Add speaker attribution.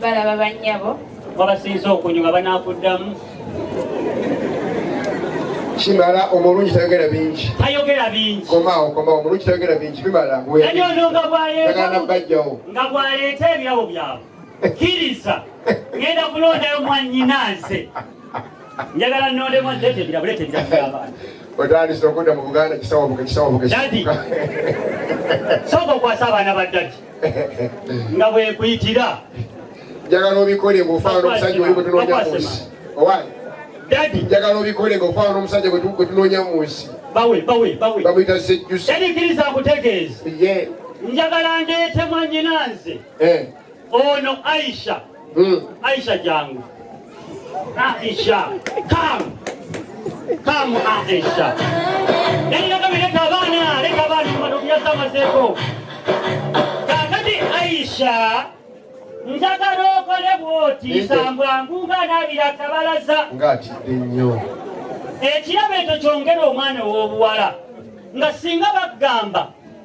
Speaker 1: balaba
Speaker 2: bannyabo wabasinza
Speaker 1: okunyuma banaakuddamu
Speaker 3: kimala omulungi tayogera bingi tayogera bingi
Speaker 1: komawo komawo omulungi
Speaker 3: tayogera bingi bimala nanyono nga
Speaker 1: bwaleetagana bajjawo
Speaker 3: nga bwaleeta
Speaker 1: ebyabo byabwe kkiriza ngenda kulondayo mwanyina nze njagala nondemu adetebilabuleeta ebiramu by'abaana otandise okudda
Speaker 3: mu buganda kisawabuka kisawabuka dadi
Speaker 1: sooka okwasa abaana ba dadi nga bwekuyitira njagala
Speaker 3: obikole ngaofaana omusajja oli gwetunoonya mu nsi owaani dadi
Speaker 1: njagala obikole
Speaker 3: ngaofaana n'omusajja gwetunoonya mu nsi bawe bawe bawe
Speaker 1: bamuyita
Speaker 3: sejjusi dadi kiriza akutegeeza njagala ndeete
Speaker 1: mwanyina nze eh. ono aisha Mm. Aisha jangu. Aisha. Come. Come Aisha. Nenda kama leta bana, leta bana kwa ndugu yako mazeko. Kakati Aisha. Njagala okole bwoti sambwa nguga nabira kabalaza. Ngati nnyo.
Speaker 3: Ekirabo
Speaker 1: ekyo kyongera omwana ow'obuwala nga singa bagamba